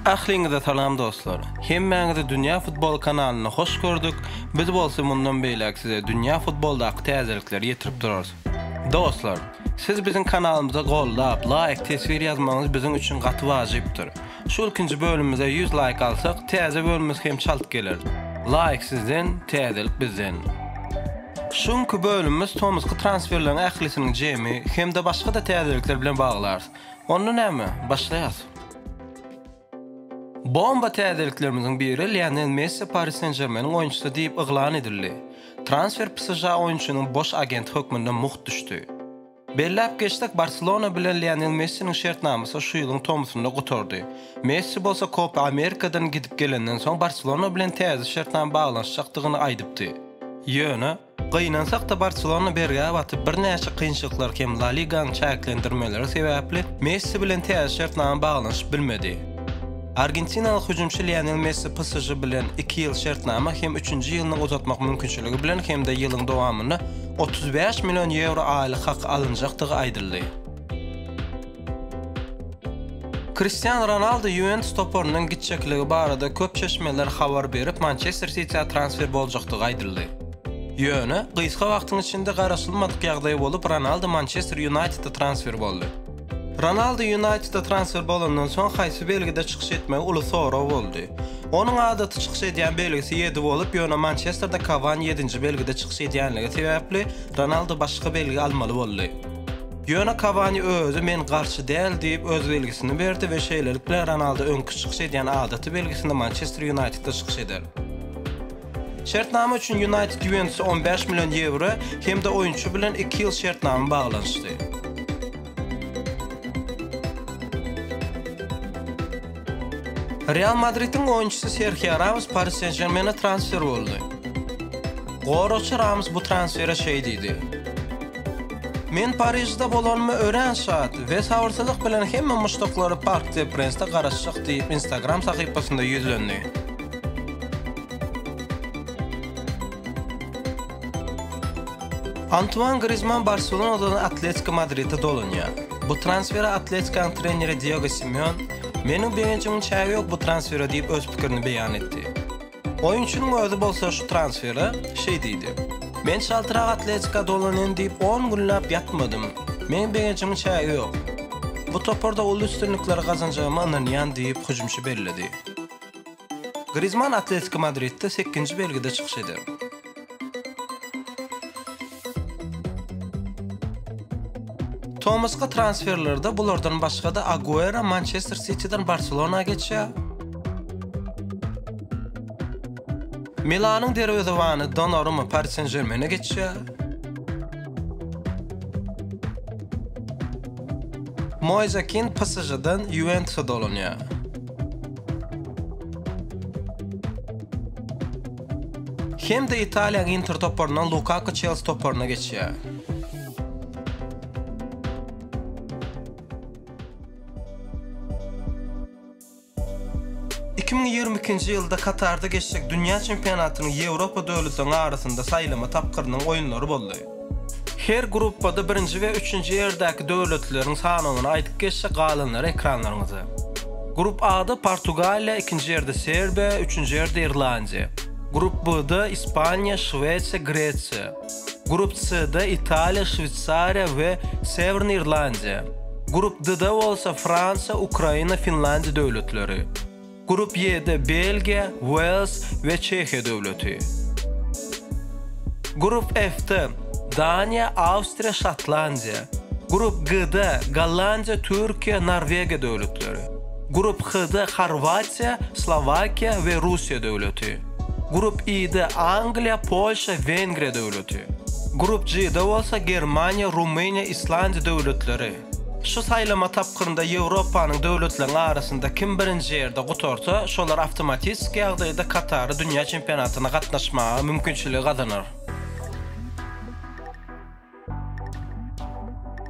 Ahliňize salam dostlar! Hemmäňizi Dünýä Futbol kanalynda hoş gördük, biz bolsa mundan beýläk size dünýä futboldaky täzelikleri ýetirip durarys. Dostlar! Siz biziň kanalymyza goldap, laýk, teswir ýazmagyňyz biziň üçin gaty wajypdyr. Şu ilkinji bölümimize ýüz laýk alsak täze bölümimiz hem çalt geler. Laýk sizden, täzelik bizden. Şu günki bölümimiz tomusky transferleriň ählisiniň jemi hem-de başga-da täzelikler bilen baglarys. Onda näme, başlaýas. Bomba täzeliklerimiziň biri Lionel Messi Paris Sen-Žermeniň oýunçysy diýip yglan edildi. Transfer PSŽ oýunçynyň boş agenti hökmünde mugt düşdi. Belläp geçsek, Barselona bilen Lionel Messiniň şertnamasy şu ýylyň tomusynda gutardy. Messi bolsa Kopa Amerikadan gidip gelenden soň Barselona bilen täze şertnama baglanyşjakdygyny aýdypdy. Ýöne, gynansak-da Barselona bergä batyp, birnäçe kynçylyklar hem La Liganyň çäklendirmeleri sebäpli Messi bilen täze şertnama baglanyşyp bilmedi. Argentinaly hüjümçi Lionel Messi PSŽ bilen iki ýyl şertnama hem üçünji ýylyny uzatmak mümkinçiligi bilen hem-de ýylyň dowamynda otuz bäş million ýewro aýlyk haky alynjakdygy aýdyldy. Kristian Ronaldo Ýuwentus toparynyň gitjekligi barada köp çeşmeler habar berip, Mançester Sitiä transfer boljakdygy aýdyldy. Ýöne, gysga wagtyň içinde garaşylmadyk ýagdaý bolup, Ronaldo Mançester Ýunaýteda transfer boldy. Ronaldu Ýunaýteda transfer bolandan soň haýsy belgide çykyş etmegi uly sorag boldy. Onuň adaty çykyş edýän belgisi ýedi bolup, ýöne Mançesterde Kawani ýedinji belgide çykyş edýänligi sebäpli, Ronaldu başga belgi almaly boldy. Ýöne Kawani özi men garşy däl diýip, öz belgisini berdi we şeýlelikde, Ronaldu öňki çykyş edýän adaty belgisinde Mançester Ýunaýtedde çykyş eder. Şertnama üçin Ýunaýted Ýuwentusa on bäş million ýewro hem-de oýunçy bilen iki ýyl şertnama baglanyşdy. Real Madridiň oýunçysy Serhio Ramos Pari Sen-Žermene transfer boldy. Goragçy Ramos bu transfere şeý diýdi, Men Parižde bolanyma örän şat we sabyrsyzlyk bilen hemme muşdaklary Park de Prensde garaşjak diýip Instagram sahypasynda ýüzlendi. Antuan Grizman Barselonadan Atletiko Madride dolanýar. Bu transfere Atletikaň treneri Diego Simeon, Meniň begenjimiň çägi ýok bu transfere diýip öz pikirini beýan etdi. Oýunçynyň özi bolsa şu transfere şeý diýdi, Men çaltrak Atletika dolanyn diýip on günläp ýatmadym. Meniň begenjimiň çägi ýok. Bu toparda uly üstünlikleri gazanjagyma ynanýan diýip hüjümçi belledi. Grizmann Atletiko Madridde sekinji belgide çykyş eder. Tomaska transferlerde bulardan başga-da Aguero Manchester Sitiden Barselona geçýär. Milanyň derwezewany Donnarumma Paris Saint-Germaine geçýär. Moise Kean PSG-den Juventusa dolanýar. Hem-de Italiýanyň Inter toparyndan Lukaku Çelsi toparyna geçýär. Nji ýylda Katarda geçjek dünýä çempionatynyň Ýewropa döwletleriniň arasynda saýlama tapgyrynyň oýunlary boldy. Her gruppada birinji we üçünji ýerdäki döwletleriň sanawyny aýdyp geçsek, galanlary ekranlaryňyzda. Grup A-da Portugaliýa, ikinji ýerde Serbiýa, üçünji ýerde Irlandiýa. Grup B-da Ispaniýa, Şwesiýa, Gresiýa. Grup C-da Italiýa, Şweýsariýa we Sewrny Irlandiýa. Grup D-da bolsa Fransiýa, Ukraina, Finlandiýa döwletleri. Grup Y-de Belgiýa, Wales we Çehiýa döwleti. Grup F-de Daniýa, Awstriýa, Şotlandiýa. Grup G-de Gollandiýa, Türkiýe, Norwegiýa döwletleri. Grup H-de Horwatiýa, Slowakiýa we Russiýa döwleti. Grup I-de Angliýa, Polşa, Wengriýa döwleti. Grup G-de bolsa Germaniýa, Rumyniýa, Islandiýa döwletleri. Şu saýlama tapgyrynda Ýewropanyň döwletleriniň arasynda kim birinji ýerde gutarsa, şolar awtomatistiki ýagdaýda Katary dünýä çempionatyna gatnaşmaga mümkinçiligi gazanar.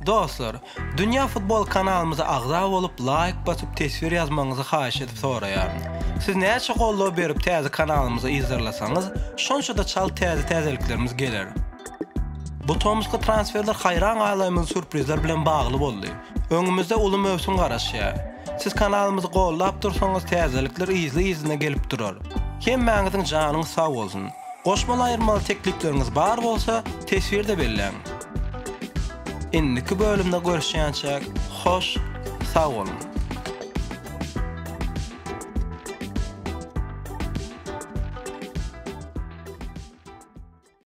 Dostlar, Dünýä Futbol kanalymyza agza bolup, laýk basyp, teswir ýazmagyňyzy haýyş edip soraýaryn. Siz näçe goldaw berip täze kanalymyzy yzarlasaňyz, şonça-da çalt täze täzeliklerimiz geler. Bu tomusky transferler haýran galaýmaly sürprizler bilen bagly boldy. Öňümizde uly möwsüm garaşýar. Siz kanalymyzy gollap dursaňyz täzelikler yzly-yzyna gelip durar. Hemmäňiziň janyňyz sag bolsun. Goşmaly aýyrmaly teklipleriňiz bar bolsa, teswirde belläň. Indiki bölümde görüşýänçäk, hoş, sag boluň!